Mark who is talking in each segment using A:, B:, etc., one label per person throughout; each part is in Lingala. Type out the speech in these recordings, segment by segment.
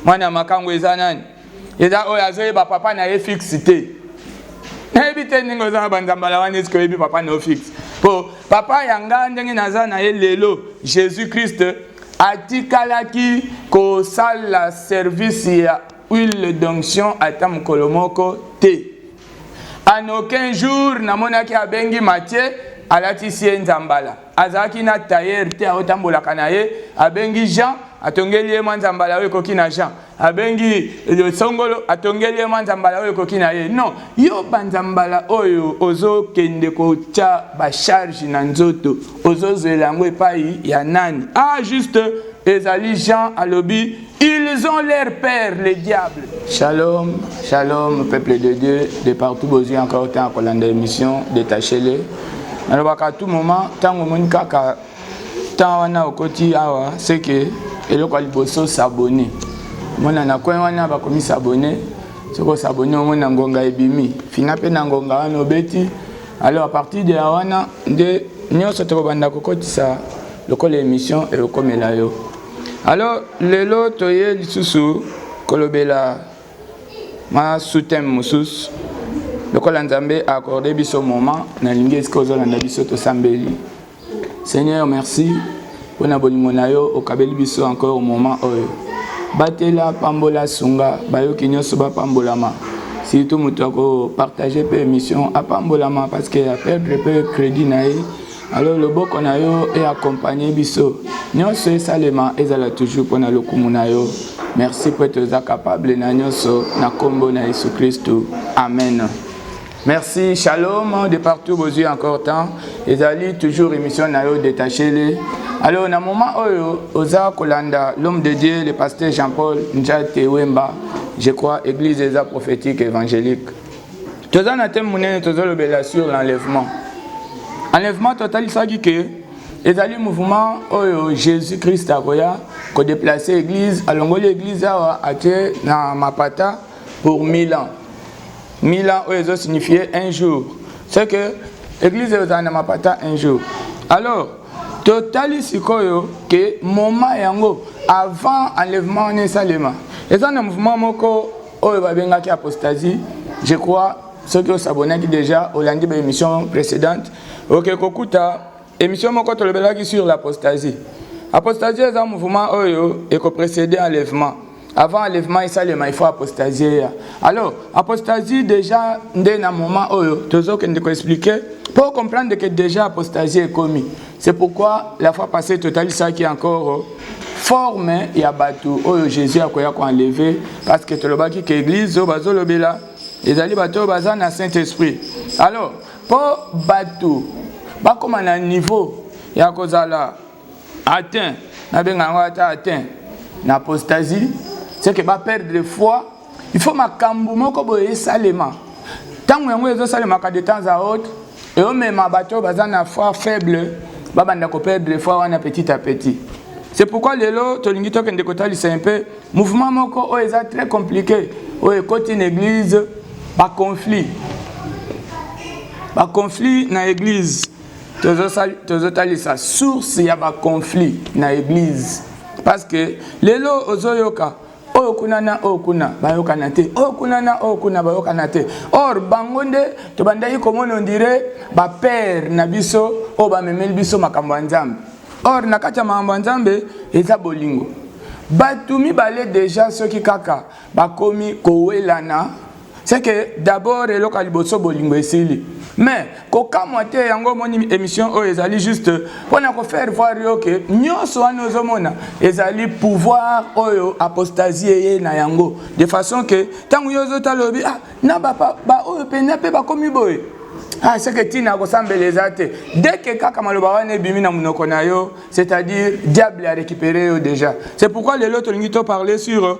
A: mwana ya makango eza nani eza oyo azoyeba papa na ye fixe te nayebi te ndenge oza na banzambala wana eske oyebi papa na yo fixe mpo papa ya ngai ndenge naza na ye lelo jésus christ atikalaki kosala service ya huile d'onction ata mokolo moko te En aucun jour namonaki abengi Mathieu alatisi ye nzambala azalaki na tailleur te aotambolaka na ye abengi Jean atongeli ye mwa nzambala oyo ekoki na Jean abengi songolo atongeli ye mwa nzambala oyo ekoki na ye non yo banzambala oyo ozokende kotya bacharge na nzoto ozozwela yango epai ya nani ah juste ezali Jean alobi Ils ont leur père, le diable. Shalom, shalom, peuple de Dieu, de partout, Bozu, encore autant, qu'on a émission, détachez-les. nalobaka à tout moment ntango omoni kaka ntango wana okoti awa seke eloko ya liboso sabone omona na coin wana bakomi sabone soki osabone omona ngonga ebimi fina mpe na ngonga wana obeti alors à partir de ya wana nde nyonso tokobanda kokotisa lokola émission ekokomela yo Alors lelo toye lisusu kolobela ma sous-thème mosusu lokola Nzambe a accordé biso moment nalingi esika ozolanda biso tosambeli Seigneur merci mpo na bolingo na yo okabeli biso encore moment oyo batela pambola sunga bayoki nyonso bapambolama surtout moto ya kopartage mpe émission apambolama parce que ya perdre mpe crédit na ye alors loboko na yo e accompagne biso nyonso esalema ezala toujours mpo na lokumu na yo merci mpo ete oza capable na nyonso na nkombo na yesu kristu amen merci shalom de partout bozwi encore temps ezali toujours émission na yo detachele alors na moment oyo oza kolanda l'homme de dieu le pasteur jean paul njate wemba je crois église eza prophétique évangélique toza na teme monene tozolobela sur l'enlèvement enlèvement totalisaki ke ezali mouvement oyo jésus christ akoya kodeplace église alongoli église awa atie na mapata pour 1000 ans 1000 ans oyo ezosignifie un jour ce que église ekozala na mapata un jour alors totali sikoyo ke moment yango avant enlèvement wana esalema eza na mouvement moko oyo babengaki apostasie je crois soki osabonaki déjà olandi ba émission précédente oke kokuta émission moko tolobelaki sur l'apostasie apostasie eza mouvement oyo ekoprécéde enlèvement avant enlèvement esalema il faut apostasie eya alors apostasie déjà nde na moment oyo tozokende koexplike mpo comprendre ke déjà apostasie ekomi C'est pourquoi la fois passée totalisaki encore euh, forme ya bato oyo Jésus akoya ko enlever parce que tolobaki que église oyo bazolobela ezali bato oyo baza na Saint-Esprit. Alors, mpo bato bakoma na niveau ya kozala atteint nabenga yango ata atteint na apostasie c'est que baperdre foi il faut makambo moko boye esalema ntango yango ezosalemaka de temps à autre eomema bato oyo baza na foi faible babanda koperdre foi wana petit à petit c'est pourquoi lelo tolingi tokende kotalisa un peu mouvement moko oyo eza très compliqué oyo ekoti na église baconflit baconflit na église tozotalisa source ya baconflit na église parce que lelo ozoyoka oyo kuna na oyo kuna bayokana te oyo kuna na oyo kuna bayokana te or bango nde tobandaki komona ondire bapere na biso oyo bamemeli biso makambo ya nzambe or na kati ya makambo ya nzambe eza bolingo bato mibale deja soki kaka bakomi kowelana c'est que d'abord eloko ya liboso bolingo esili mais kokamwa te yango omoni émission oyo ezali juste mpo na kofaire voir yo ke nyonso wana ozomona ezali pouvoir oyo apostasie eye na yango de façon ke ntango yo ozotala olobi ah na baoyo mpenza mpe bakomi boye ah seke ntina ya kosambela eza te deke kaka maloba wana ebimi na monoko na yo c'est-à-dire diable a récupéré yo déjà c'est pourquoi lelo tolingi to parler sur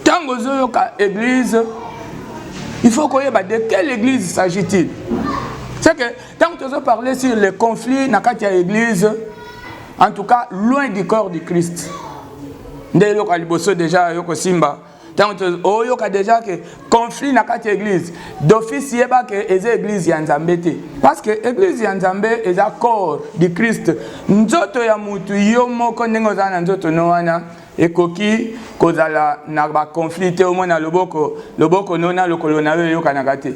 A: ntango ozoyoka église il faut koyeba de quelle église s'agit-il c'est que ntango tozo parler sur les conflits na kati ya église en tout cas loin du corps du christ nde eloko ya liboso deja yo kosimba ntango oyoka deja ke conflit na kati ya église d'office yeba ke eza église ya nzambe te parce que église ya nzambe eza corps du christ nzoto ya motu yo moko ndenge oza na nzoto no wana Ekoki kozala na ba conflit te omoi na loboko, loboko no na lokolo na yo eyokanaka te,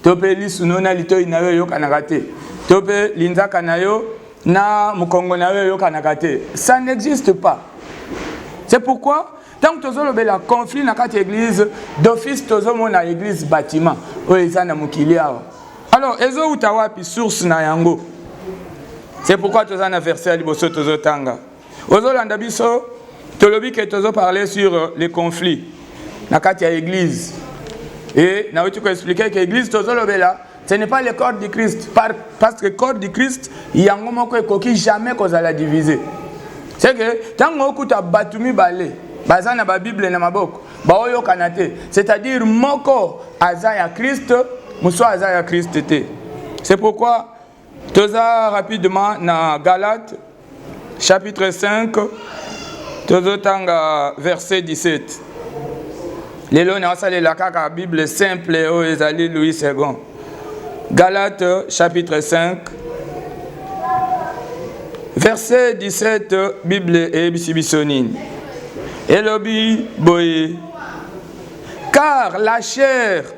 A: to mpe lisu no na litoi na yo eyokanaka te, to mpe linzaka na yo na mokongo na yo eyokanaka te. Ça n'existe pas. C'est pourquoi ntango tozolobela conflit na kati ya eglise d'office tozomona eglise bâtiment oyo eza na mokili awa alors ezowuta wapi source na yango c'est pourquoi toza na verset ya liboso tozotanga ozolanda biso tolobi ke tozo parler sur euh, les conflits na kati ya église e nauti koexplike ke église tozolobela ce n'est pas le corps du christ par, parce que corps du christ yango moko ekoki jamais kozala divise c'est que ntango okuta bato mibale baza na babible na maboko baoyokana te c'est-à-dire moko aza ya christ mosusu aza ya christ te c'est pourquoi toza rapidement na galate chapitre 5 tozotanga verset 17 lelo naosalela kaka bible simple oyo ezali louis second galate chapitre 5 verset 17 bible eyebisi biso nini elobi boye car la chair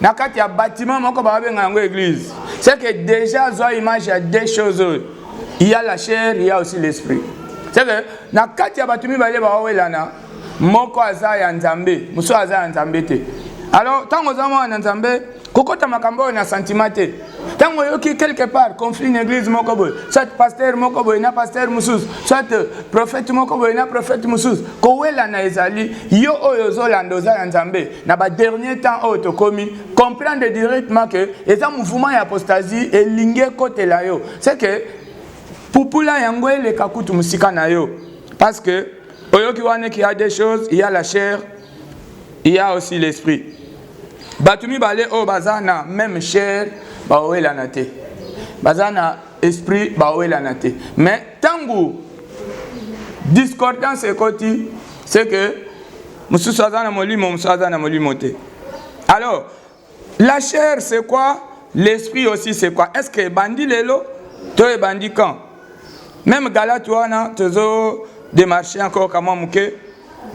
A: na kati ya bâtiment moko babenga yango église c'est que déjà azwa image ya deux choses oyo il y a la chair il y a aussi l'esprit c'est que na kati ya bato mibale baowelana moko aza ya nzambe mosusu aza ya nzambe te alors ntango oza mwana na nzambe kokota makambo oyo na sentiment te ntango oyoki quelque part conflit na église moko boye soit pasteur moko boye na pasteur mosusu soit euh, prophète moko boye na prophète mosusu kowelana ezali yo oyo ozolanda oza ya nzambe na badernier temps oyo tokomi comprendre directement ke eza mouvement ya apostasie elingi ekotela yo se ke pupula yango eleka kutu mosika na yo parce que oyoki wana ki ya des choses ya la chair il y a aussi l'esprit bato mibale oyo baza na meme chair baowelana te baza na esprit baowelana te mais ntango discordance ekoti c'est que mosusu aza na molimo mosusu aza na molimo te alors La chair c'est quoi? L'esprit aussi c'est quoi? Est-ce que ebandi lelo to ebandi quand? Même Galate wana tozo démarcher encore kama muke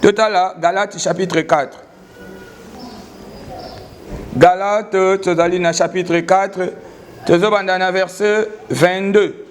A: totala Galate chapitre 4. Galate tozali na chapitre 4 tozobanda na verset 22.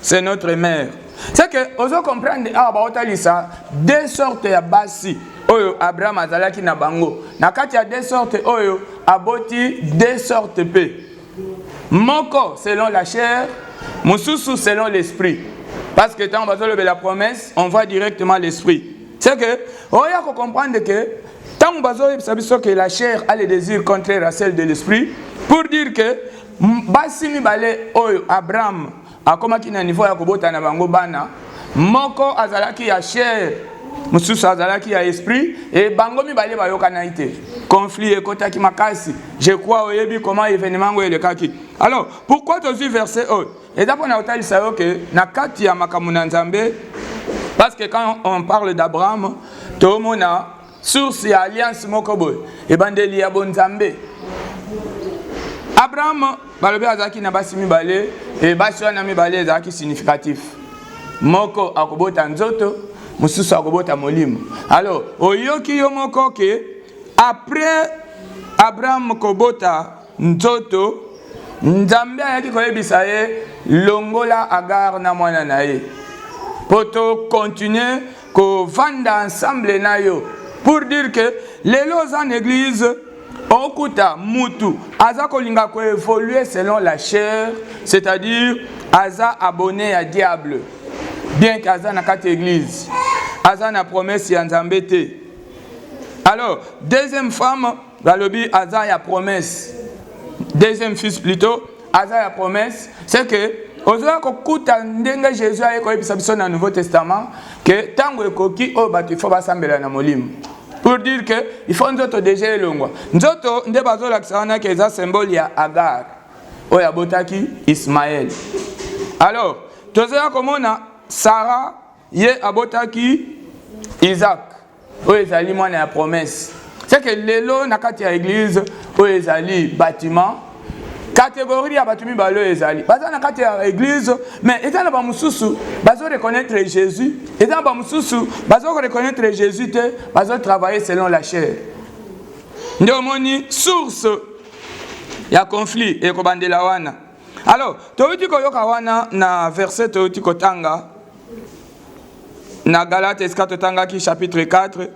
A: c'est notre mère c'est que ozo comprendre awa ah, baotalisa deux sortes ya basi oyo abraham azalaki na bango na kati ya deux sortes oyo aboti deux sortes mpe moko selon la chair mosusu selon l'esprit parce que ntango bazolobela promesse on voit directement l'esprit c'est que oya oh, kocomprendre ke ntango bazoyebisa biso ke la chair a le désir contraire à celle de l'esprit pour dire que Basi mibale oyo Abraham akomaki na niveau ya kobota na bango bana, moko azalaki ya chair, mosusu azalaki ya esprit, et bango mibale bayokanaki te. Conflit ekotaki makasi. Je crois oyebi comment événement yango elekaki. Alors, pourquoi tozwi verset oyo? Eza mpo na kotalisa yo ke na kati ya makambo na Nzambe, parce que quand on parle d'Abraham, tomona source ya alliance moko boye ebandeli ya bonzambe abraham balobi azalaki na basi mibale e basi wana mibale ezalaki significatif moko akobota nzoto mosusu akobota molimo alors oyoki yo moko ke après abraham kobota nzoto nzambe ayaki koyebisa ye longola agare na mwana na ye mpo tokontinue kovanda ensemble na yo pour dire que lelo oza na eglise okuta mutu aza kolinga koevolue selon la chair c'est-à-dire aza abonne ya diable bien ke aza na kati eglise aza na promese ya nzambe te alors deuxième femme balobi aza ya promesse deuxième fils plutôt aza ya promesse c'est que ozoya kokuta ndenge jésus aye koyebisa biso na nouveau testament ke ntango ekoki oyo bato ifo basambela na molimo pour dire que ifo nzoto deja elongwa nzoto nde bazolakisa wana ke eza symbole ya agar oyo abotaki ismael alors tozoya komona sara ye abotaki isaac oyo ezali mwana ya promesse seke lelo na kati ya eglize oyo ezali bâtiment kategori ya bato mibale oyo ezali baza na kati ya eglize mais eza na bamosusu bazo reconnaître jésus eza na bamosusu bazo reconnaître jésus te bazo travailler selon la chair nde omoni source ya conflit ekobandela wana alors toyuti koyoka wana na verset toyuti kotanga na galate esika totangaki chapitre 4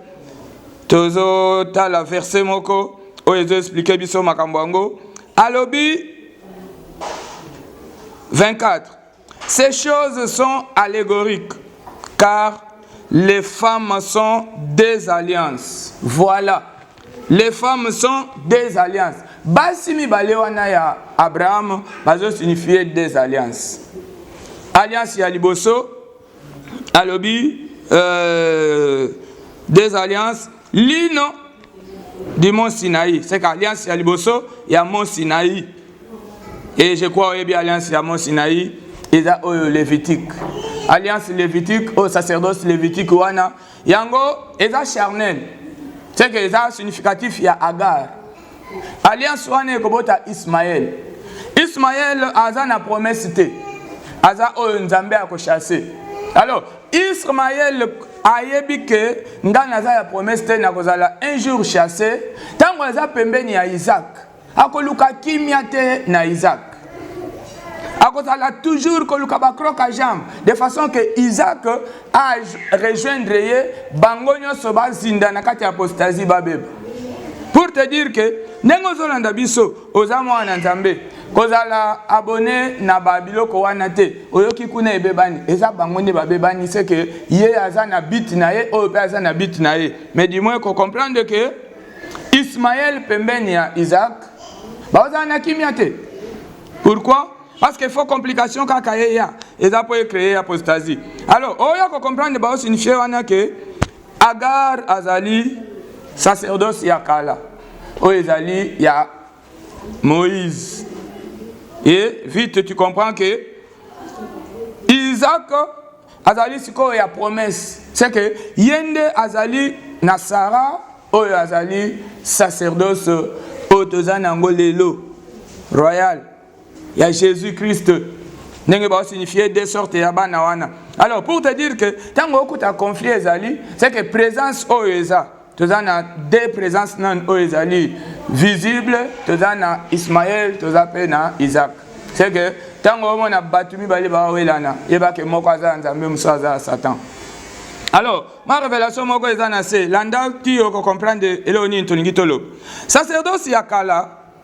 A: tozotala verse moko oyo ezoexplike biso makambo yango alobi 24 ces choses sont allégoriques car les femmes sont des alliances voilà Les femmes sont des alliances. Basi mibale wana ya Abraham bazo signifier des alliances. Alliance ya liboso alobi euh, des alliances lino du mont Sinaï. C'est qu'alliance ya liboso ya mont Sinaï. Et je crois oyebi alliance ya mont Sinaï eza oyo Lévitique. Alliance Lévitique au sacerdoce Lévitique wana yango eza charnel seke eza significatif ya agar alliance wana ekobota ismaele ismaele aza na promese te aza oyo nzambe akochasse alors ismaele ayebi ke ngai naza ya promese te nakozala un jour chasse ntango aza pembeni ya isaac akoluka kimia te na Isaac akozala toujours koluka bacroc a jambe de façon que Isaac a rejoindre ye bango nyonso bazinda na kati ya apostasie babeba pour te dire que ndenge ozolanda biso oza mwana nzambe kozala abone na babiloko wana te oyoki kuna ebebani eza bango nde babebani seke ye aza na bit na ye oyo mpe aza na bit na ye mais du moins kocomprendre ke Ismaël pembeni ya Isaac bakozala na kimia te. Pourquoi? Parce que faut complication kaka ye ya eza po créer apostasie. Alors oya ko comprendre ba signifier wana que Agar azali sacerdoce ya kala oyo ezali ya Moïse. Et vite tu comprends que Isaac azali sikoyo ya promesse c'est que ye nde azali na sara oyo azali sacerdoce oyo toza na yango lelo royal ya jésus christ ndenge baosignifie de sorte ya bana wana alors pour te dire que ntango okuta conflit ezali c'est que présence oyo eza toza na deux présence nani oyo ezali visible toza na ismael toza mpe na isaac c'est que ntango omona bato mibale bawelana yeba ke moko aza ya nzambe mosusu aza ya satan alors ma révélation moko eza na se landa ti okocomprendre eloko nini tolingi toloba sacerdoce ya kala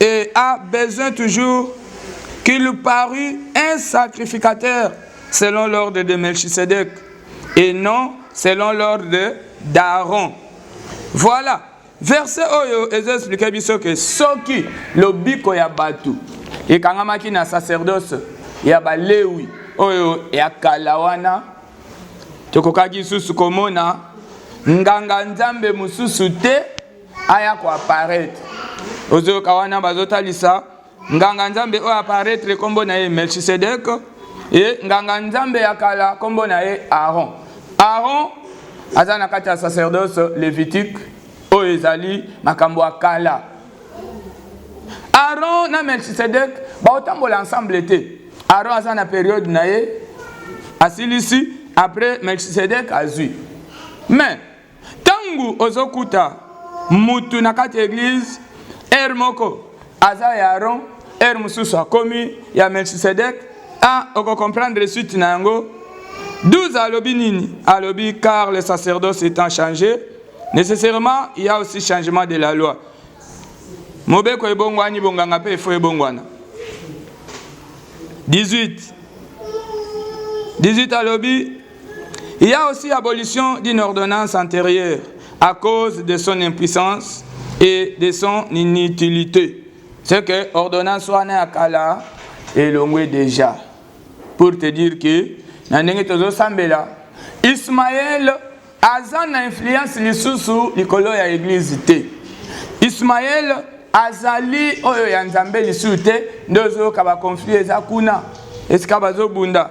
A: Et a besoin toujours qu'il parut un sacrificateur selon l'ordre de Melchisedec et non selon l'ordre d'Aaron. Voilà. Verset oyo ezo expliquer biso que soki lobiko ya batu ekangamaki na sacerdoce ya balewi oyo ya kala wana tokokaki lisusu komona nganga nzambe mosusu te aya ko apparaître ozoyoka wana bazotalisa nganga nzambe oyo apparaître nkombo na ye melchisedek e nganga nzambe ya kala nkombo na ye aaron aaron aza na kati ya sacerdoce levitique oyo ezali makambo ya kala aaron na melchisedek baotambola ensemble te aaron aza na periode na ye asilisi après melchisedek azwi mais Tangu ozo kuta mutu na kati ya eglise heure moko aza ya Aaron heure mususu akomi ya Melchisedek ah oko comprendre suite na yango 12 alobi nini alobi car le sacerdoce étant changé nécessairement il y a aussi changement de la loi mobeko ebongwani bonganga mpe efo ebongwana 18 18 alobi Il y a aussi abolition d'une ordonnance antérieure à cause de son impuissance et de son inutilité. C'est que ordonnance wana ya kala elongwe déjà pour te dire que na ndenge tozosambela Ismaël aza na influence lisusu likolo ya eglise te Ismaël azali oyo ya Nzambe lisusu te nde ozoyoka ba conflit eza kuna esika bazobunda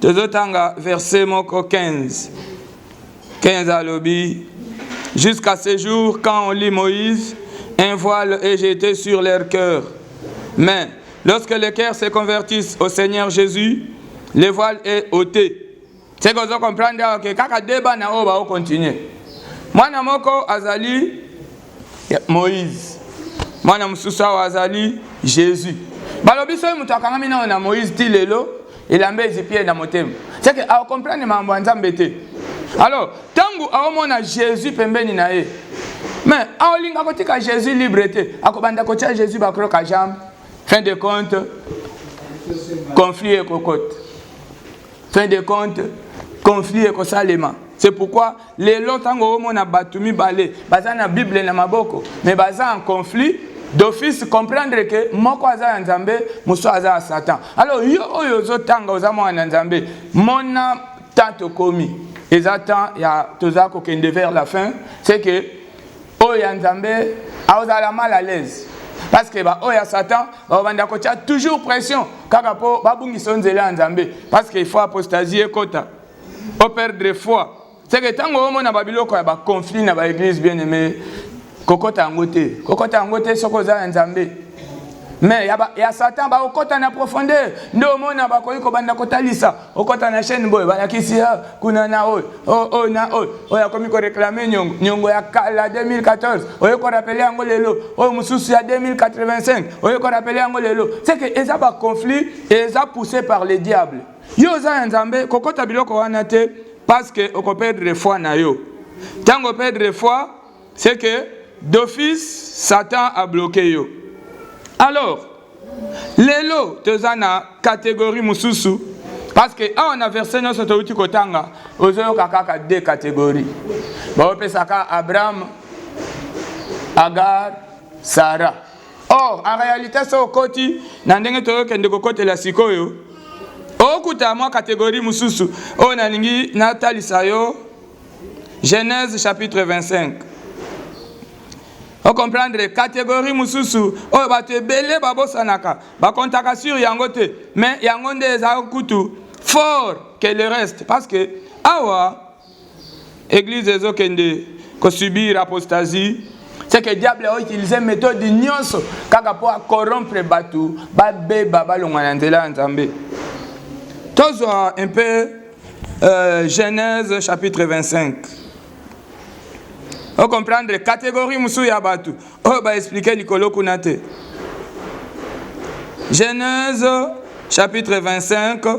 A: tozotanga verse moko 15 15 alobi jusqu'à ce jour quand on lit moïse un voile est jeté sur leur cœur mais lorsque les cœurs se convertissent au seigneur jésus le voile est ôté ce que ozo comprendre awa ke kaka deba na oyo baokontinue mwana moko azali moïse mwana mosusu awa azali jésus balobi soki moto akangami nao na moïse ti lelo elamba ezipi ye na motema seke aokomprendre makambo ya nzambe te alors ntango aomona jésus pembeni na ye me aolinga kotika jésus libre te akobanda kotya jésus bakroka jambe fin de compte conflit ekokota fin de compte conflit ekosalema c'est pourquoi Lelo ntango omona bato mibale baza na Bible na maboko me baza en conflit d'office comprendre ke moko aza ya nzambe mosusu aza ya satan alors yo oyo ozotanga oza mwana na nzambe mona temps tokomi eza temps ya toza kokende vers la fin c'est que oyo ya nzambe aozala mal à l'aise parce que baoyo ya satan babanda kotya toujours pression kaka mpo babungisa yo nzela ya nzambe parce que il faut apostasie ekota o perdre foi seke ntango omona babiloko ya baconflit na baeglise bien aime kokɔta yango te kokɔta yango te soki oza ya nzambe me ya, ya satan bakokɔta na profondeur nde omona bakoki kobanda kotalisa okɔta na chaîne boye balakisi ah, kuna na oyo oh, oyo oh, na oyo oh, oyo akomi koreklame nyongo nyongo ya kala 2014 oye korapele yango lelo oyo mosusu ya 2085 oye korapele yango lelo seke eza baconflit eza poussé par le diable Yo oza ya Nzambe, kokota biloko wana te parce que oko perdre foi na yo. Tango perdre foi, c'est que d'office Satan a bloqué yo. Alors, lelo toza na catégorie mususu parce que awa na verset nyonso touti kotanga ozoyoka kaka deux catégorie baopesaka abraham agar sara Or, en realite, so okoti na ndenge toyokende kokotela sikoyo, okuta mwa kategori mosusu oyo nalingi natalisa yo Genèse chapitre 25. okomprendre kategori mosusu oyo bato ebele babosanaka bakontaka sur yango te mais yango nde eza kutu fort que le reste parce que awa eglise ezo kende ko subir apostasie c'est que diable a utilisé méthode nyonso kaka mpo a corrompre bato babeba balongwa na nzela ya nzambe tozwa un peu euh, genèse chapitre 25 ocomprendre catégorie mosusu ya bato oyo oh, baexplike likolo kuna te genèse chapitre 25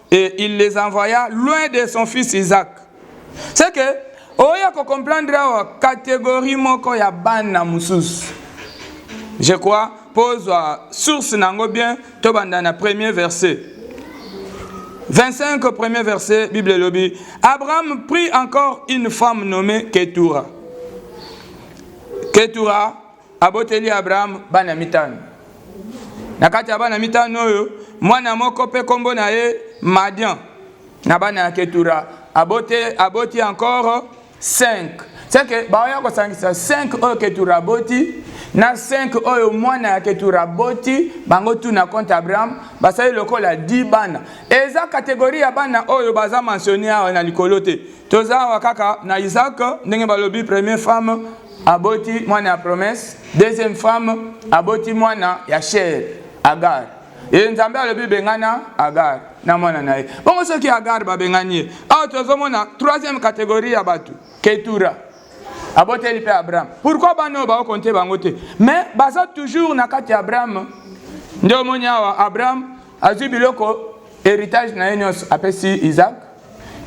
A: et il les envoya loin de son fils Isaac. C'est que oya ko comprendre awa catégorie moko ya bana mususu. Je crois pozwa source nango bien to banda na premier verset. 25 premier verset Bible lobi Abraham prit encore une femme nommée Ketura. Ketura aboteli Abraham bana mitano. Na kati ya bana mitano oyo, mwana moko mpe nkombo na ye Madian na bana ya Ketura abote, aboti encore 5 seke baoya kosangisa 5 oyo Ketura aboti na 5 oyo mwana ya Ketura aboti bango tu na compte Abraham basali lokola 10 bana. Eza kategori ya bana oyo baza mentionne awa na likolo te, toza awa kaka na Isaac ndenge balobi premier femme aboti mwana ya promesse deuxième femme aboti mwana ya chair agar ye nzambe alobi bengana agar na mwana na ye bongo soki agar babengani ye awa tozomona troisième catégorie ya bato ketura aboteli mpe abraham pourkui bana oyo baokonte bango te mais baza toujours na kati ya abraham nde omoni awa abraham azwi biloko heritage na ye nyonso apesi isak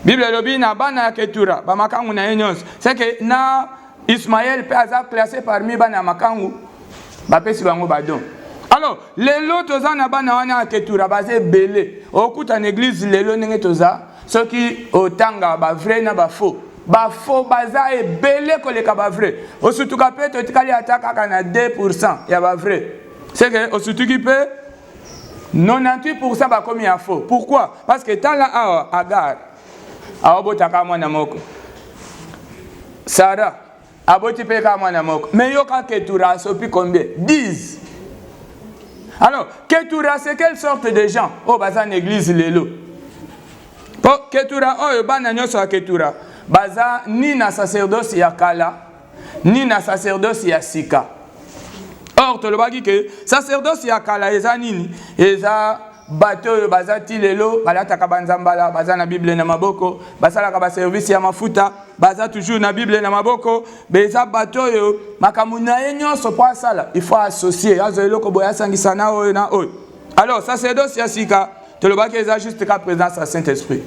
A: bible elobi na bana ya ketura bamakangu na ye nyonso seke na ismael mpe aza classe parmi bana ya makangu bapesi bango badon alors lelo toza na bana wana ya ketura baza ebele okuta na eglize lelo ndenge toza soki otanga bavrai na bafaux bafo baza ebele koleka bavrai osutuka mpe totikali ata kaka na 2 ya bavrai seke osutuki mpe 98% bakomi ya faux. Pourquoi? Parce que tala awa Agar aobota kaka mwana moko. Sarah aboti mpe kaka mwana moko. Mais yo kaka Ketura asopi combien? 10. Alors, Ketura c'est quelle sorte de gens? Oh baza na église lelo. Po Ketura oyo bana nyonso ya Ketura baza ni na sacerdoce ya kala ni na sacerdoce ya sika or tolobaki ke sacerdoce ya kala eza nini eza bato oyo baza ti lelo balataka banzambala baza na bible na maboko basalaka baservice ya mafuta baza toujours na bible na maboko eza bato oyo makambo na ye nyonso mpo asala ifo associe azwa eloko boye asangisa na oyo na oyo alors sacerdoce ya sika tolobaki eza juste ka présence ya saint esprit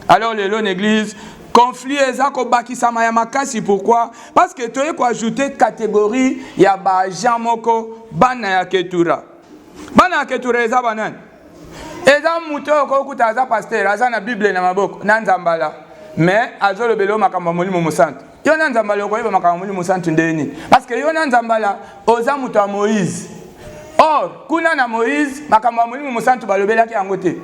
A: alors lelo na église conflit eza kobakisama ya makasi pourquoi parce que toye koajoute catégorie ya baagent moko bana ya ketura bana ya ketura eza banani eza moto oyo kokuta aza pasteur aza na bible na maboko na nzambala mais azolobela yo makambo ya molimo mosantu yo na nzambala okoyeba makambo ya molimo mosantu ndenge nini parce que yo na nzambala oza moto ya moïse or kuna na moïse makambo ya molimo mosantu balobelaki yango te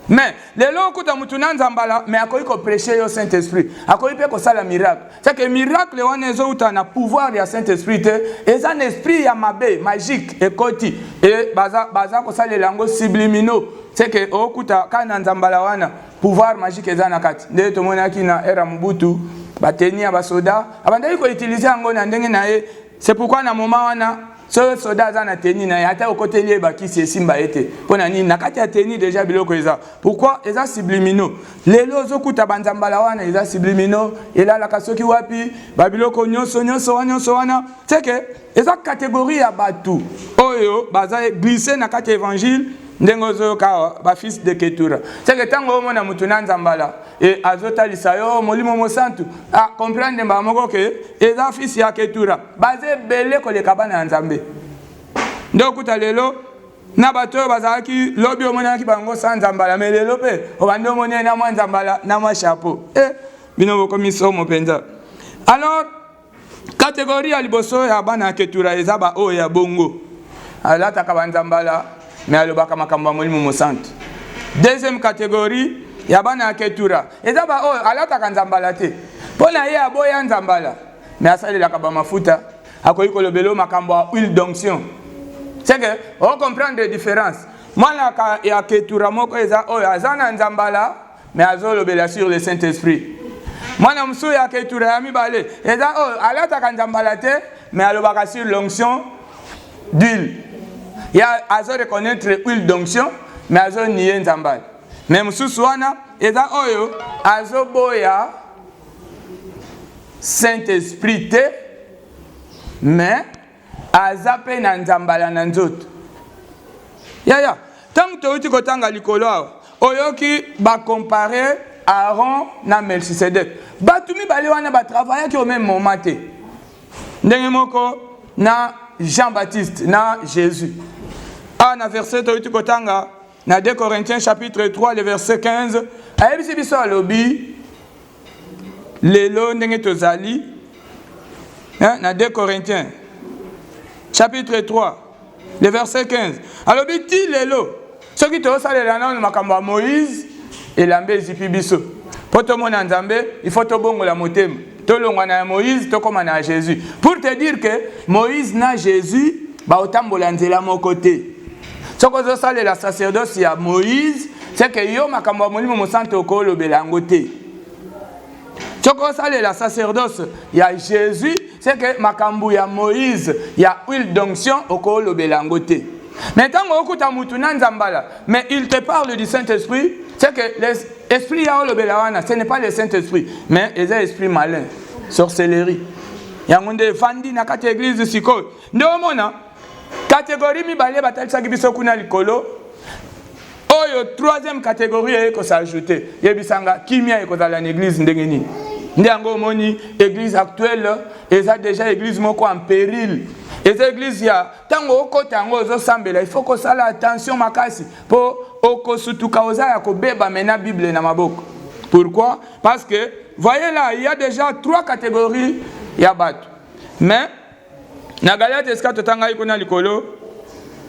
A: Mais lelo okuta mutu na nzambala mais akoki ko prêcher yo Saint Esprit, akoki pe kosala miracle. C'est que miracle wana ezouta na pouvoir ya Saint Esprit te, eza na esprit ya mabe magique ekoti et baza baza kosalela yango subliminaux. C'est que okuta ka na nzambala wana pouvoir magique eza na kati. Nde tomonaki na era Mobutu bateni ya basoda abandaki koutilize yango na ndenge na ye C'est pourquoi na moment wana soki soda aza na teni na ye ata okoteli ye bakisi esimba ye te mpo na nini na kati ya teni deja biloko eza pourkui eza sublimino lelo ozokuta banzambala wana eza sublimino elalaka soki wapi babiloko nyonso nyonso wana nyonso wana seke eza kategorie ya bato oyo baza glisse na kati ya evangile ndenge ozoyoka awa bafils de ketura seke ntango omona moto na nzambala e azotalisa yo molimo mosantu akomprendre mbala moko ke eza fisi ya ketura baza ebele koleka bana ya nzambe nde okuta lelo na bato oyo bazalaki lobi omonanaki bango sa nzambala me lelo mpe obandi omonani na mwa nzambala na mwa chapeau e eh, bino bokomi somo mpenza alors Kategori ya liboso ya bana ya Ketura eza ba oyo ya bongo, alataka banzambala me alobaka makambo ya Molimo Mosantu. Deuxième kategori ya bana ya Ketura eza ba oyo alataka nzambala te, mpo na ye aboya nzambala me asalelaka bamafuta, akoki kolobela makambo ya huile d'onction. Seke o comprendre difference. Mwana ya Ketura moko eza oyo aza na nzambala me azolobela sur le saint esprit mwana mosusu ya ketura ya mibale eza oyo oh, alataka nzambala te me alobaka sur l'onction d'huile ya azo reconnaître huile d'onction me azonie nzambala me mosusu wana eza oyo oh, azoboya saint esprit te me aza mpe na nzambala na nzoto yaya ntango touti kotanga likolo awa oyoki bakompare aaron na melchisedek bato mibale wana batravayaki au même moment te ndenge moko na jean baptiste na jésus awa na verset toyuti kotanga Na 2 Corinthiens chapitre 3 le verset 15 ayebisi biso alobi lelo ndenge tozali hein, na 2 Corinthiens chapitre 3 le verset 15 alobi ti lelo soki tozosalela nano makambo ya Moïse elamba ezipi biso mpo tomona Nzambe il faut tobongola motema tolongwa na ya Moïse tokoma na ya Jésus pour te dire que Moïse na Jésus baotambola nzela moko te soki ozosalela sacerdoce ya moïse seke yo makambo ya molimo mosanto okolobela yango te soki osalela sacerdoce ya jésus seke makambo ya moïse ya huile d'onction okolobela yango te mais ntango okuta motu na nzambala mais il te parle du saint esprit seke esprit ya olobela wana ce n'est pas le saint esprit mais eza esprit malin sorcellerie yango nde efandi na kati ya eglize sikoyo nde omona Kategori mibale batalisaki biso kuna likolo oyo troisième catégorie eye kosajoute yebisa nga kimia ekozala na église ndenge nini nde yango omoni église actuelle eza déjà église moko en péril eza église ya ntango okota yango ozosambela il faut kosala attention makasi mpo okosutuka oza ya kobeba mena bible na maboko pourquoi parce que voyez là il y a déjà trois catégories ya bato mais Na Galate esika totangaki kuna likolo,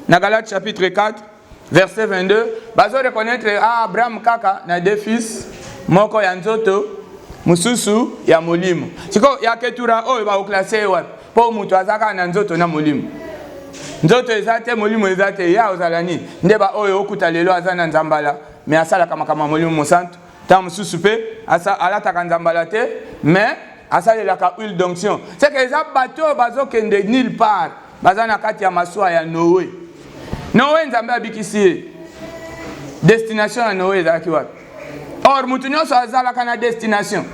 A: na Galate chapitre 4 verset 22, bazo reconnaître ah, Abraham kaka na deux fils, moko ya nzoto, mosusu ya molimo. Siko ya Ketura oyo baoklase ye wapi? Mpo moto aza kaka na nzoto na molimo. Nzoto eza te, molimo eza te, ya ozala nini? Nde baoyo okuta lelo aza na nzambala, me asalaka makambo ya molimo mosantu, ntango mosusu mpe alataka nzambala te mais asalelaka huile d'onction seke eza bato oyo bazokende nulle part baza na kati ya masuwa ya noe noe nzambe abikisi ye destination ya noe ezalaki wapi or moto nyonso azalaka na destination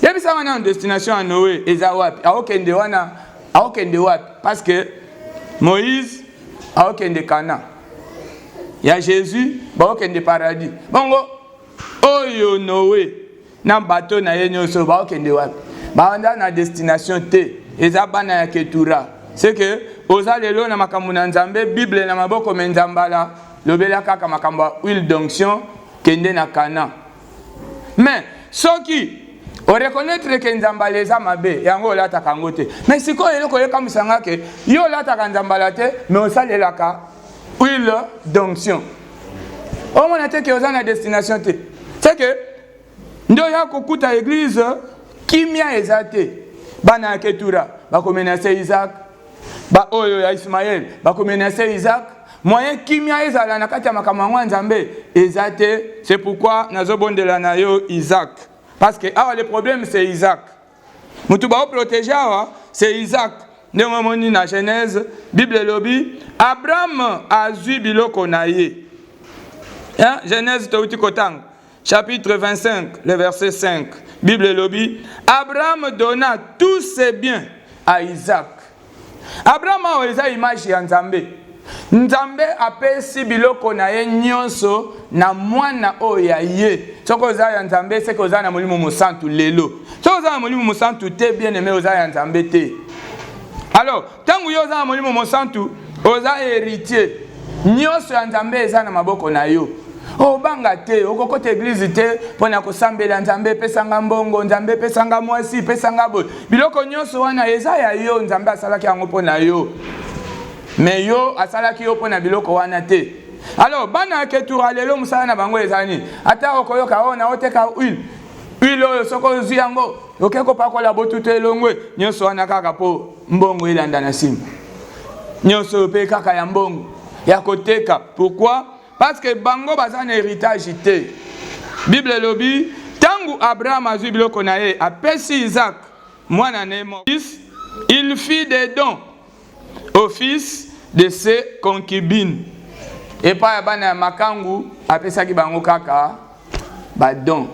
A: yebisanga nano destination ya noe eza wapi aokende wana aokende wapi parce que moïse aokende kana ya jesus baokende paradis bongo oyo noe na bato na ye nyonso baokende wapi baanda na destination te eza bana ya ketura seke oza lelo na makambo na nzambe bible na maboko me nzambala lobela kaka makambo ya huile d'onction kende na kana mais soki oreconnaitre ke nzambala eza mabe yango olataka yango te me sikoyo eloko ekamwisa nga ke yo olataka nzambala te me osalelaka huile d'onction omona te ke oza na destination te se ke nde oya kokuta eglize kimia eza te bana ya ketura bakomenase isaac Ba oyo ya Ismael bakomenase Isaac moyen kimia ezala na kati ya makambo yango ya Nzambe eza te. C'est pourquoi nazobondela na yo Isaac parce que awa le problème c'est Isaac mutu baoprotege awa c'est Isaac ndenge omoni na Genèse Bible elobi Abraham azwi biloko na ye Genèse touti kotanga Chapitre 25, le verset 5. Bible elobi, Abraham donna tous ses biens à Isaac. Abraham awa eza image ya Nzambe. Nzambe apesi biloko na ye nyonso na mwana oyo ya ye. Soki oza ya Nzambe, seke oza na Molimo Mosantu lelo. Soki oza na Molimo Mosantu te, bien aime oza ya Nzambe te. Alors, Ntango yo oza na Molimo Mosantu, oza heritier. Nyonso ya Nzambe eza na maboko na yo. obanga oh, te okokota eglize te mpo na kosambela nzambe epesanga mbongo nzambe epesanga mwasi epesanga boye biloko nyonso wana eza ya yo nzambe asalaki yango mpo na yo me yo asalaki yo mpo na biloko wana te alors bana ya ketura lelo mosala na bango eza nini ata okoyoka oyo oh, naoteka huile huile oyo soki ozwi yango oke kopakola botutu elongwe nyonso wana kaka mpo mbongo elanda na nsima nyonso oyo mpe kaka ya mbongo ya koteka pourquoi parce que bango baza na héritage te bible elobi ntango abraham azwi biloko na ye apesi isak mwana na ye fils il fit des dons au fils de ses concubines epai ya bana ya makangu apesaki bango kaka badon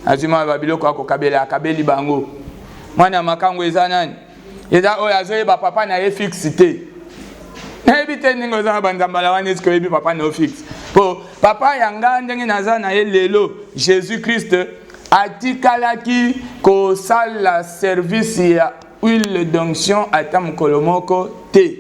A: azwi mwana babiloko ya kokabela akabeli bango mwana ya makango eza nani eza oyo azoyeba papa na ye fixe te nayebi te ndenge oza na banzambala wana esike oyebi papa na yo fixe mpo papa ya ngai ndenge naza na ye lelo jésus christ atikalaki kosala service ya huile d'onction ata mokolo moko te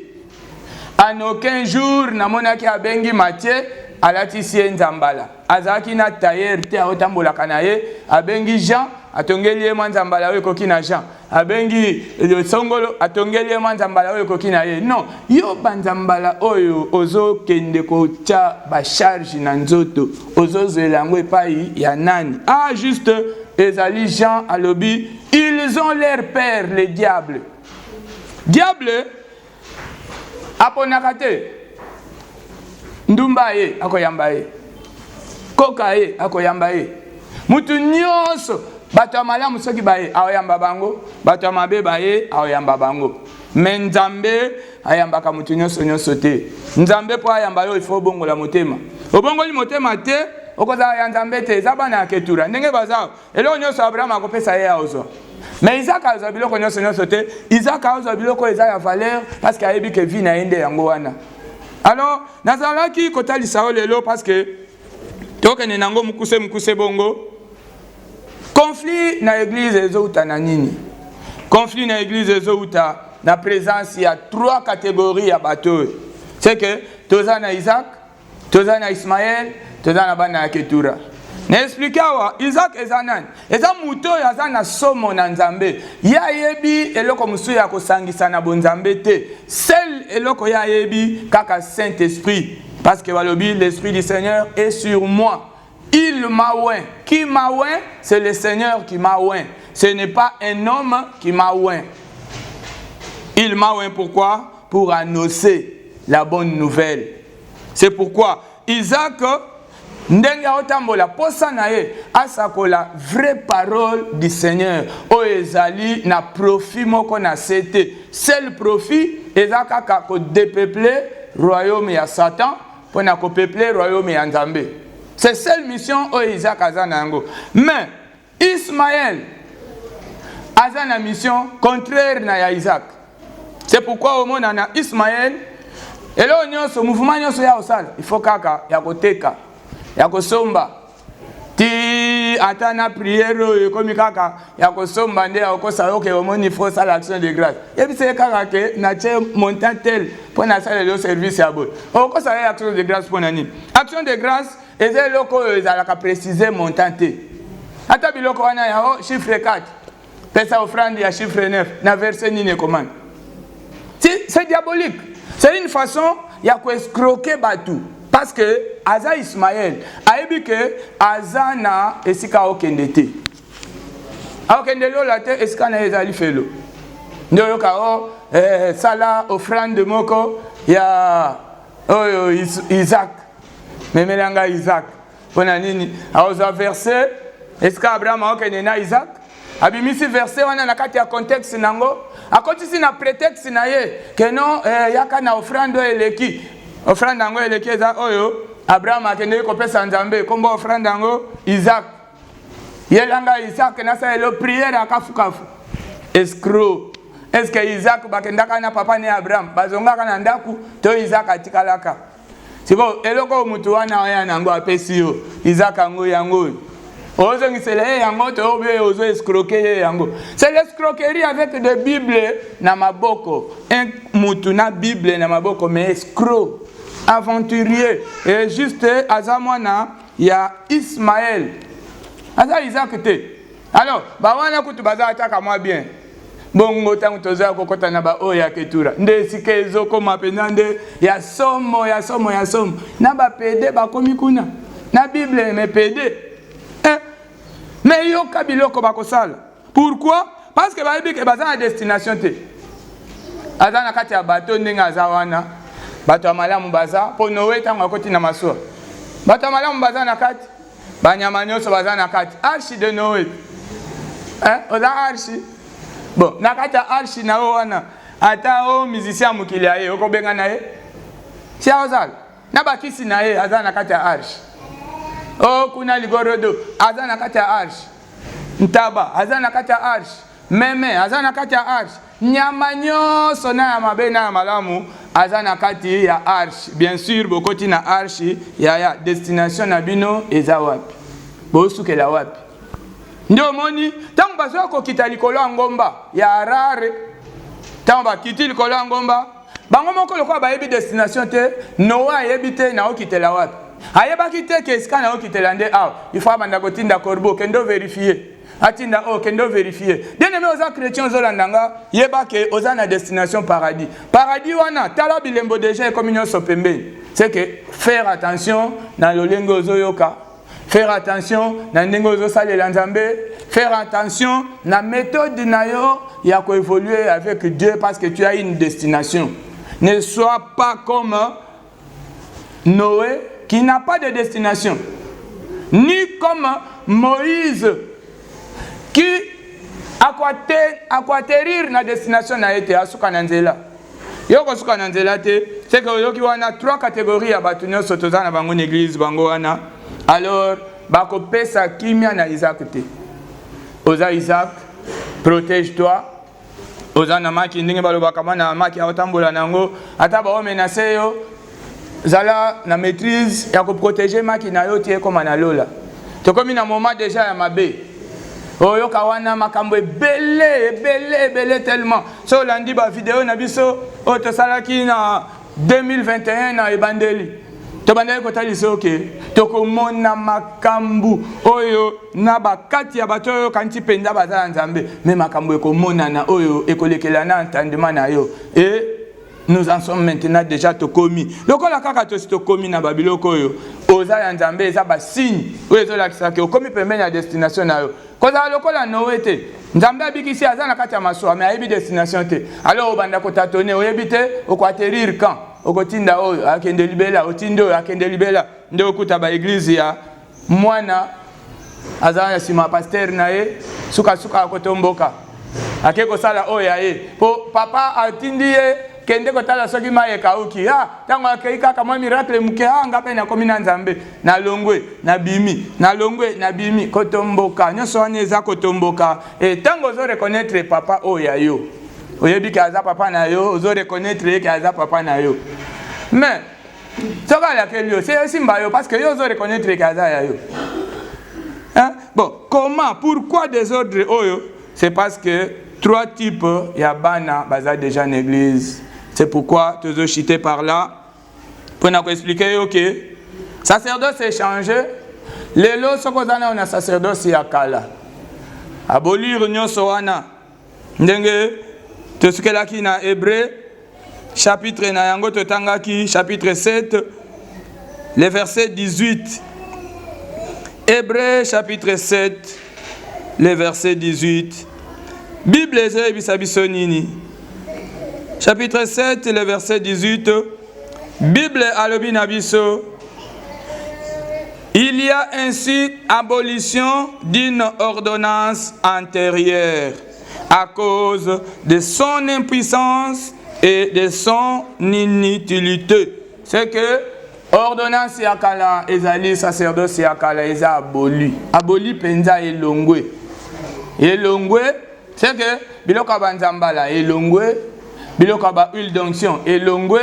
A: En aucun jour namonaki abengi Mathieu alatisi ye nzambala azalaki na tailleur te aotambolaka na ye abengi Jean atongeli ye mwa nzambala oyo ekoki na Jean abengi songolo atongeli ye mwa nzambala oyo ekoki na ye non yo banzambala oyo ozokende kotya bacharge na nzoto ozozwela yango epai ya nani ah juste ezali Jean alobi ils ont leur père le diable diable aponaka te ndumba ye akoyamba ye koka ye akoyamba ye mutu nyonso bato ya malamu soki baye aoyamba bango bato ya mabe baye aoyamba bango me nzambe ayambaka moto nyonso nyonso te nzambe mpo ayamba yo ifo obongola motema obongoli motema te okozala ya nzambe te eza bana ya ketura ndenge baza eloko nyonso abraham akopesa ye aozwa me isaka azwa biloko nyonso nyonso te isaka azwa biloko oyo eza ya valeur parce que ayebi ke vie na ye nde yango wana alors nazalaki kotalisa yo lelo parce que tokende nango mokuse mokuse bongo conflit na eglise ezouta na nini conflit na eglise ezouta na présence ya trois catégorie ya bato oyo c'est que toza na isaac toza na ismael toza na bana ya ketura na explike awa isak eza nani eza moto oyo aza na somo na nzambe ye ayebi eloko mosusu ya kosangisa na bonzambe te sel eloko ye ayebi kaka saint esprit parce que balobi l'esprit du seigneur est sur moi Il m'a oint. Qui m'a oint C'est le Seigneur qui m'a oint. Ce n'est pas un homme qui m'a oint. Il m'a oint pourquoi Pour annoncer la bonne nouvelle. C'est pourquoi Isaac, ndenge aotambola posa na ye asakola vraie parole du Seigneur oyo ezali na profit moko na se te. Seul profit eza kaka ko depeupler royaume ya Satan mpo na kopeuple royaume ya nzambe c'est seule mission oyo isaac aza na yango mais ismael aza na mission contraire na ya isaac c'est pourquoi omona na ismael eloko nyonso mouvement nyonso ya kosala il faut kaka ya koteka ya kosomba ti ata na priere oyo ekomi kaka ya kosomba nde ya kokosa yo ke omoni fo osala action de grâce yebisa ye kaka ke natie montant tel mpo nasalela yo service ya boye okosala ye action de grâce mpo na nini action de grâce eza eloko oyo ezalaka précise montant te ata biloko wana yango chiffre 4 pesa offrande ya chiffre 9 na verse nini ekomami c'est diabolique c'est une façon ya koescroke bato parce que aza ismael ayebi ke aza na esika aokende te aokende lola te esika na ye ezali felo nde oyoka o oh, eh, sala offrande moko ya oyo oh, isaac memela ngai isaac mpo na nini akozwa verse esika abraham akokende na isak abimisi verse wana na kati ya contexte na yango akotisi na pretexte na ye keno eh, yaka na ofrande oyo eleki ofrande yango eleki eza oyo abraham akendeki kopesa nzambe nkombo ofrande yango isak yelanga isak nasalelo priere ya kafukafu escro eske isak bakendaka na papa ne abraham bazongaka na ndako to isak atikalaka sikoyo eloko oyo motu wana oya na yango apesi yo izaka yango yango oyo ozongisela ye yango to obi oyo ozo escroke ye yango c'est l'escroquerie avec de bible na maboko un mutu na bible na maboko mais escro aventurier et juste aza mwana ya ismael aza isaac te alors bawana kutu baza ataka mwa bien bongo ntango toza kokɔta na baoyo ya ketura nde esika ezokoma mpenza nde ya somo ya somo ya somo na bapede bakomi kuna na bible me pede eh, me yoka biloko bakosala pourkui parce que bayebi ke baza na destination te aza na kati ya bato ndenge aza wana bato ya malamu baza mpo noe ntango akoti na masuwa bato ya malamu baza na kati banyama nyonso baza na kati arche de noe eh, oza arche bon na kati ya arche na yo wana ata o musicien ya mokili ya ye okobenga na ye sia ozala na bakisi na ye aza na kati ya arche o kuna ligorodo aza na kati ya arche ntaba aza na kati ya arche meme aza na kati ya arche nyama nyonso na ya mabe na ya malamu aza na kati ya arche bien sûr bokoti na arche yaya destination na bino eza wapi bosukela wapi nde omoni ntango bazoya kokita likolo ya ngomba ya harare ntango bakiti likolo ya ngomba bango moko lokola bayebi destination te noa ayebi te naokitela wapi ayebaki te ke esika naokitela nde awa ifo abanda kotinda corbeau kende overifie atinda oyo oh, kende overifie bien aime oza chrétien ozolanda nga yeba ke oza na destination paradis paradis wana tala bilembo deja ekomi nyonso pembeni c'est que faire attention na lolenge ozoyoka faire attention na ndenge ozosalela nzambe faire attention na méthode na yo ya koévoluer avec dieu parce que tu as une destination ne sois pas comme Noe qui n'a pas de destination, ni comme Moïse qui akuaterir na destination na ye te, asuka na nzela. Yo kosuka na nzela te, seke oyoki wana trois catégories ya bato nyonso toza na bango na eglise, bango wana alors bakopesa kimia na Isaac te. Oza Isaac, protège toi oza na maki ndenge balobaka bana maki aotambola na yango ata baome na se yo zala na maîtrise ya koprotege maki na yo ti ekoma na lola tokomi na moment deja ya mabe oyoka wana makambo ebele ebele ebele tellement so olandi bavideo na biso oyo tosalaki na 2021 na ebandeli tobandaki kotalisa yo ke tokomona makambo oyo na bakati ya bato oyo okanisi mpenza baza ya nzambe me makambo ekomonana oyo ekolekela na entendement na yo e nous en sommes maintenant déjà tokomi lokola kaka tosi tokomi na babiloko oyo oza ya nzambe eza basigne oyo ezolakisa ke okomi pembeni ya destination na yo kozala lokola noe te nzambe abikisi aza na kati ya masuwa me ayebi destination te alors obanda kotatone oyebi te okoaterir camp okotinda oyo akende libela otindi oyo akende libela nde okuta baeglize ya mwana aza na nsima pastere na ye sukasuka akotomboka ake kosala oyo ya ye mpo papa atindi ye kende kotala soki mai ekauki a ah, ntango akei kaka mwa miracle moke a ah, nga mpe nakomi na nzambe nalongwe nabimi nalongwe nabimi kotomboka nyonso wana eza kotomboka e ntango ozo reconnaître papa oyo ya yo oyebi ke aza papa na yo ozo reconnaître ye ke aza papa na yo mais soki alakeli yo se esimba yo parce que yo ozo reconnaître ke aza ya yo hein? bon comment pourquoi desordre oyo c'est parce que trois types ya bana baza déjà na église c'est pourquoi tozo chite par là mpo na koexplike yo ke sacerdoce echange lelo soki oza nayo na sacerdoce ya kala abolire nyonso wana ndenge tosukelaki na hebreu chapitre na yango totangaki chapitre 7 le verset 18 hebreu chapitre 7 le verset 18 bible ezoyebisa biso nini chapitre 7 le verset 18 bible alobi na biso il y a ainsi abolition d'une ordonnance antérieure à cause de son impuissance et de son inutilité c'est que ordonnance ya kala ezali sacerdoce ya kala eza aboli aboli mpenza elongwe elongwe C'est que biloko ya banzambala elongwe, biloko ya ba huile d'onction elongwe,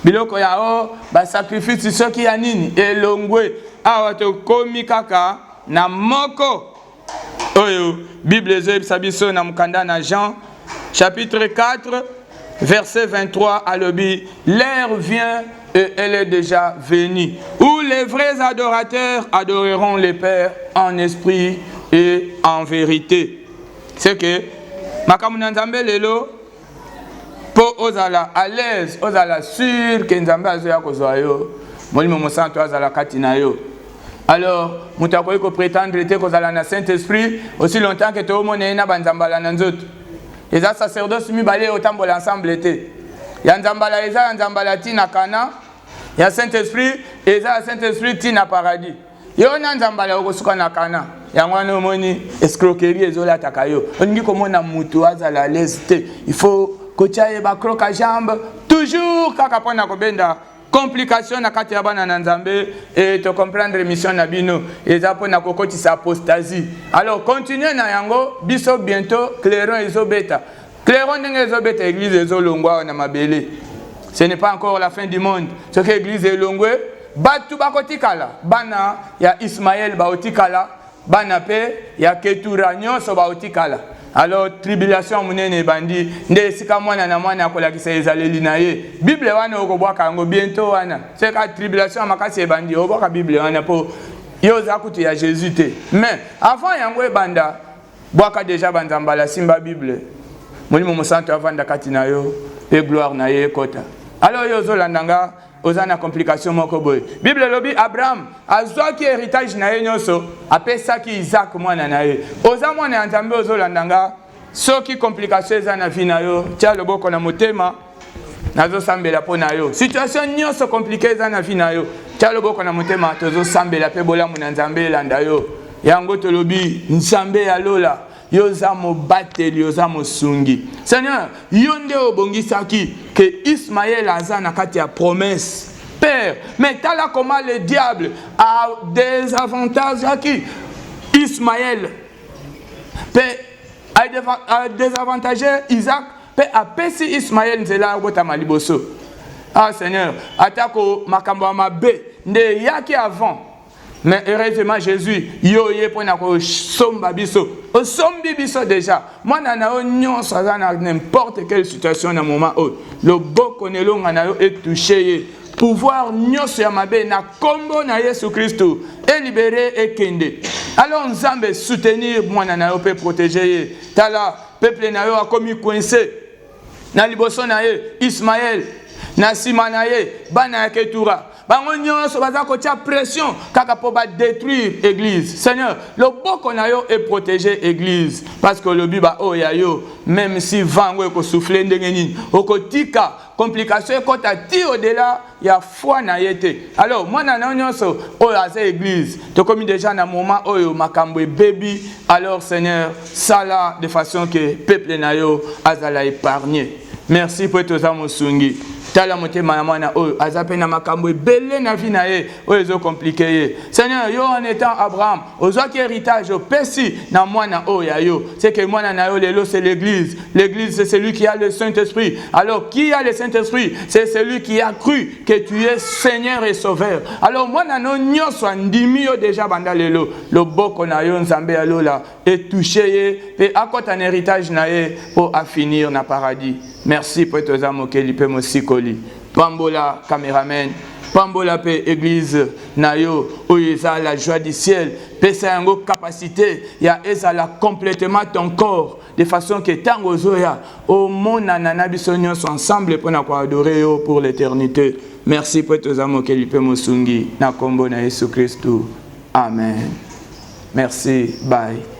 A: biloko ya o ba sacrifice soki ya nini elongwe. Awa tokomi kaka na moko oyo Bible ezoyebisa biso na mokanda na Jean chapitre 4 Verset 23 alobi l'heure vient et elle est déjà venue où les vrais adorateurs adoreront le Père en esprit et en vérité. C'est que makambo na Nzambe lelo mpo ozala à l'aise ozala sur ke Nzambe azoya kozwa yo molimo mosantu azala kati na yo alors moto akoki kopretendre te kozala na saint esprit aussi longtemps ke toomona ye na banzambala na nzoto eza sacerdoce mibale oyo otambola ensemble te ya nzambala eza ya nzambala ti na kana ya saint esprit eza ya saint esprit ti na paradis yo na nzambala okosuka na kana yango wana omoni escroquerie ezolataka yo olingi komona motu azala alaise te il faut kotya ye bacroka jambe toujours kaka mpo na kobenda complication na kati ya bana na nzambe e to comprendre mission na bino eza mpo na kokotisa apostasie alors continue na yango biso bientôt clairon ezobeta clairon ndenge ezobeta église ezolongwa awa na mabele ce n'est pas encore la fin du monde soki église elongwe bato bakotikala bana ya ismaele baotikala bana mpe ya ketura nyonso baotikala alors tribulation monene ebandi nde esika mwana na mwana akolakisa ezaleli na ye bible wana okobwaka yango biento wana seka tribulation ya makasi ebandi obwaka bible wana mpo yo oza kutu ya jésus te mais avant yango ebanda bwaka deja banzambala asimba bible molimo mosantu avanda kati na yo mpe gloire na ye ekota alors yo ozolanda nga oza na complication moko boye bible elobi abraham azwaki héritage na ye nyonso apesaki isaac mwana na ye oza mwana ya nzambe ozolanda nga soki complication eza na vie na yo tya loboko na motema nazosambela mpo na yo situation nyonso komplike eza na vie na yo tya loboko na motema tozosambela mpe bolamu na nzambe elanda yo yango tolobi nzambe ya lola yo oza mobateli oza mosungi seigneur yo nde obongisaki ke ismaele aza na kati ya promese père mais tala koma le diable a desavantageaki ismaele mpe adesavantage isaac mpe apesi ismaele nzela ya kobotama liboso ah seigneur atako makambo ya mabe nde eyaki avant Mais heureusement Jésus, yo ye mpo na kosomba biso. Osombi biso déjà. Mwana na yo nyonso aza na n'importe quelle situation na moment oyo. Loboko na elonga na yo etouche ye. Pouvoir nyonso ya mabe na kombo na Yesu Kristo elibere ekende. Alors Nzambe soutenir mwana na yo mpe protéger ye. Tala peuple na yo akomi coincé. na liboso na ye ismaele na nsima na ye bana ya ketura bango nyonso baza kotya pression kaka mpo badétruire église seigneur loboko na yo eprotege église parce que olobi baoyo ya yo même si vent yango ekosouffle ndenge nini okotika complication ekota ti odela ya foi na ye te alors mwana na yo nyonso oyo aza église tokomi déjà na moment oyo makambo ebebi alors seigneur sala de façon que peuple na yo azala épargne merci mpo ete oza mosungi tala motema ya mwana oyo aza mpe na makambo ebele na vie na ye oyo ezokomplike ye seigneur yo en étant abraham ozwaki héritage opesi na mwana oyo ya yo seke mwana na yo lelo c'est l'église l'église c'est celui qui a le saint-esprit alors qui a le saint-esprit c'est celui qui a cru que tu es seigneur et sauveur alors mwana no nyonso andimi yo déjà banda lelo loboko na yo nzambe ya lola etouche ye mpe akɔta na héritage na ye mpo afinir na paradis merci mpo ete oza mokeli mpe mosikoli pambola cameraman pambola mpe eglize na yo oyo eza la joie du ciel pesa yango capacité ya ezala complètement ton corps de façon que ntango ozoya omonana na biso nyonso ensemble mpo na koadore yo pour l'éternité merci mpo ete oza mokeli mpe mosungi na nkombo na yesu kristu amen merci bye